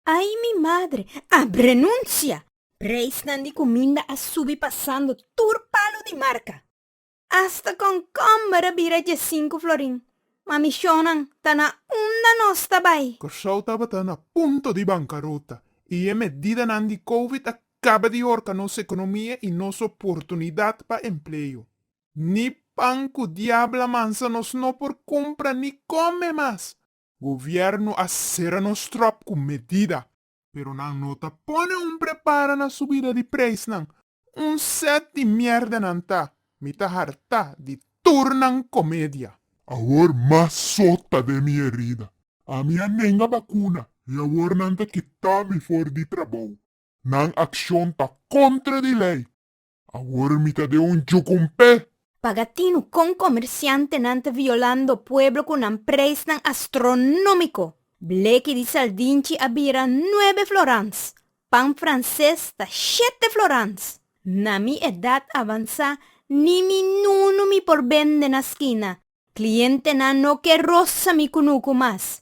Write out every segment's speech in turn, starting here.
Ay mi madre, a brenuncia! Preisnan di cuminda a subi pasando tur palu di marca. Hasta concomber a bira dje sinku florin. Ma mi shownan ta na unda nos ta bay. Curaçao tabata na punto di bancarota y e medidanan di covid a caba di horca nos economia y nos oportunidad pa empleo. Ni pan ku diabla mansa nos no por kumpra ni kome mas. Govièrnu a sera nos tròp ku medida. Pero nan no ta pone un prepara na subida di preisnan. Un sèt di mièrda nan ta, mi ta hartá di tur nan komedia. Awor mas so ta den mi erida. Ami a nenga bakuna i awor nan ta kitá mi for di trabou. Nan akshon ta kontra di lei. Awor mi ta den un jukumpé. Paga tinu kon komersiantenan ta violando pueblo ku nan preisnan astronómiko. Bleki di saldinchi a bira nuebe florans, pan franses ta shete florans. Na mi edat avansá ni mi nunu mi por bende na skina, klientenan no ke rosa mi kunuku mas.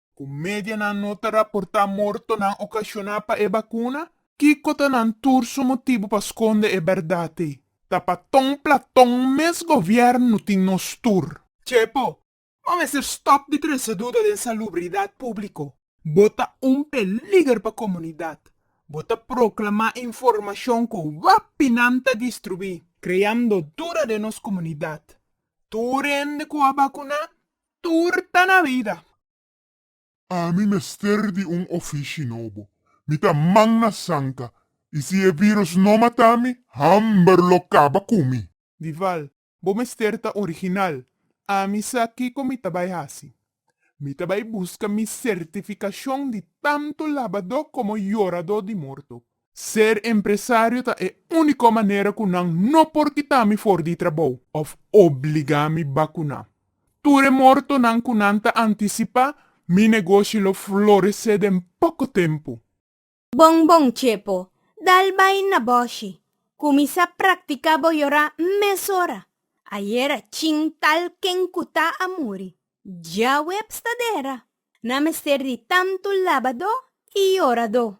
Cu medianan no ta raporta mortonan ocasiona pa e bacuna? Kico ta nan tur su motibu pa sconde e berdad ey? Ta pa ton platon mes gobierno tin nos tur. Chepo, bo mester stop di trece duda den salubridad publico. Bo ta un peliger pa comunidad. Bo ta proclama informacion cu wapinan ta distrui, creando duda den nos comunidad. Tur hende cu a bacuna Tur ta na bida. Ami mester di un ofishi nobo. Mi ta man na sanka i si e virus no mata mi, hamber lo kaba ku mi. Dival, Bo mester ta original. Ami sa kiko mi ta bai hasi. Mi ta bai buska mi sertifikashon di tantu labadó komo yorado di morto. Ser empresario ta e único manera cu nan no por kita mi for di trabou of obliga mi bacuna. Tur e mortonan cu nan ta anticipa, mi negoshi lo florece den poco tempo. Bon bon Chepo, dal bai na boshi. Cuminsa practica bo yora mesora. Ayer a chin tal ken cu ta a muri. Djawe pstadera. Nan mester di tanto laba do y yora do.